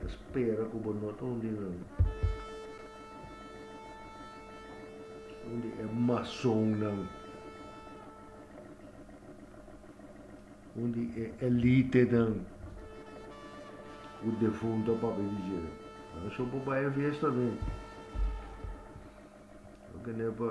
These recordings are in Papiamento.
Ta spera ku bo no ta un di nan. Un di e masonnan. Un di e elitenan. Ku defunto a papia di dje. Nan so bo bai e fiesta mi. Lo ke nepa.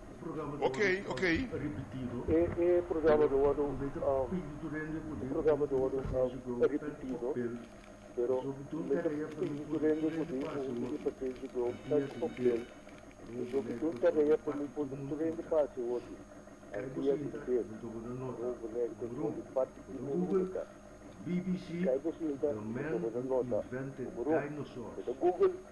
Okey, okey. E programa do a do, e programa do a do repetido, pero me ta pidi ku rende ku tin un di e pasenshi ku eu ta spopel pasobra ki un tarea pa mi por ta rende pa hasi hopi dia inter. Bo bunek ta sun di parti di un ruta. Kai bo sinta i ta toma nota ku bo rum. Meta Google.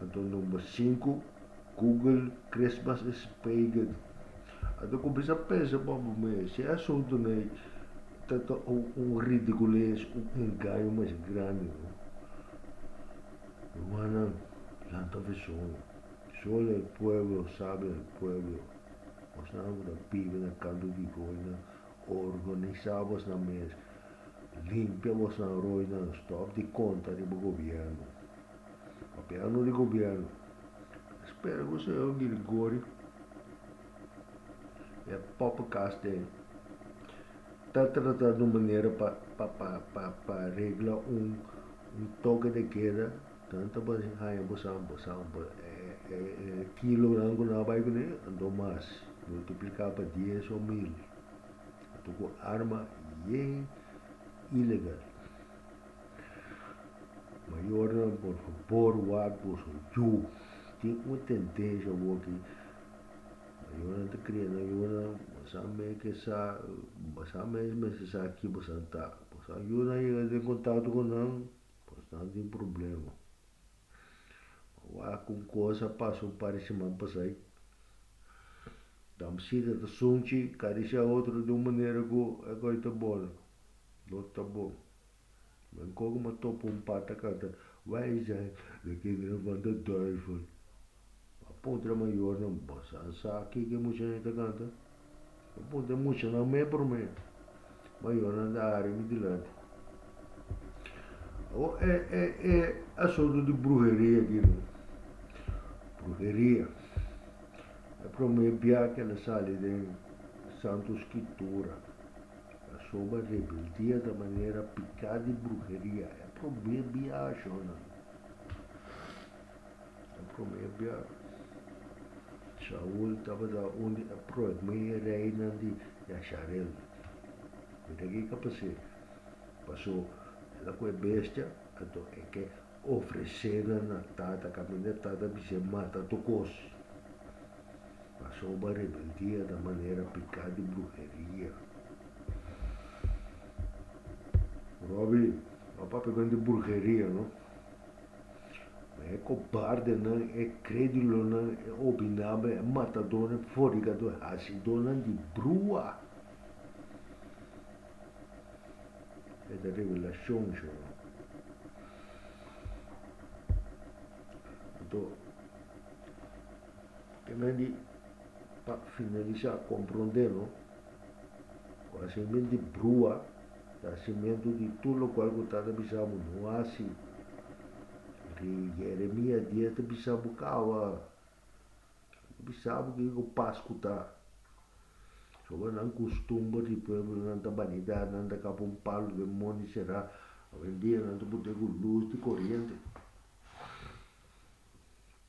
Anto number sinku, Google Christmas is pagan. A ta cuminsa pensa pa bo mes, e asunto no e ta ta un ridicules, un engaño mas grandi no. Rumannan, lanta vision, solo el pueblo sabe el pueblo, bosnan cu ta bibi na canto di roinan, organisa bosnan mes, limpia bosnan roinan, stop di conta riba gobierno. Gobierno di gobierno espera cu esey lo bini gori e pope cas den ta trata di un manera pa pa pa pa regla un un toke de keda nan ta bini haya bosan bosan e e e kilonan cu nan a bay cun'e anto mas multiplica pa dies o mil anto cu arma yey ilegal. Mayornan por fabor ward boso yu tin un tendencia bo ki mayornan ta cria nan yunan bosan mes ke sa bosan mes mes ke sa ki bosan ta bosan yunan yega den contacto con nan pues nan tin problema a wak ku cosa pasa un par di semana pasai dam cita ta sunchi cada dia cia otro di un manera ku e goi ta bon lo ta bon Nan koke ma topa un pat a kanta, Wijsheid, lo ke bira van de duivel. A puntra mayornan, Bo sa sa ke ke muchanan ta kanta? Bo puntra muchanan me promé. Mayornan ta aria mi dilanti. Awor, e, e, e asuntu di bruheria aki no. Bruheria. E promé bia ke lo sali den Santu Skitura. Pasobra rebeldia ta manera piká di bruheria. E promé biaha, Shonnan. E promé biaha. Shaul tabata un di e promé reinan di Yasharel. Mira ke e ka pas'é. Pasó el a ku e bestia, anto e ke ofres'é na na tata, kaminda e tata a bis'é mata tu kos. Pasoba rebeldia a ta manera piká di bruheria. Robby, no a papia men di bruheria no. Men e kobardenan, e krédulonan, e obinabel, e matadónan, e fornigadónan, e hasidónan di brua. E ta revelashon shon no. Anto. Temen di, pa finalisá, komprondé no ku hasementu di brua i hasementu di tur lokual ku ta ta bisa bo no hasi. Rei Jeremia dies ta bisa bo kaba, ta bisa bo kiko ku pas ku ta. Soba nan kustumber di pueblonan ta banidat, nan ta kaba un palu den mon di será, awendia nan ta put'é ku lus di koriente.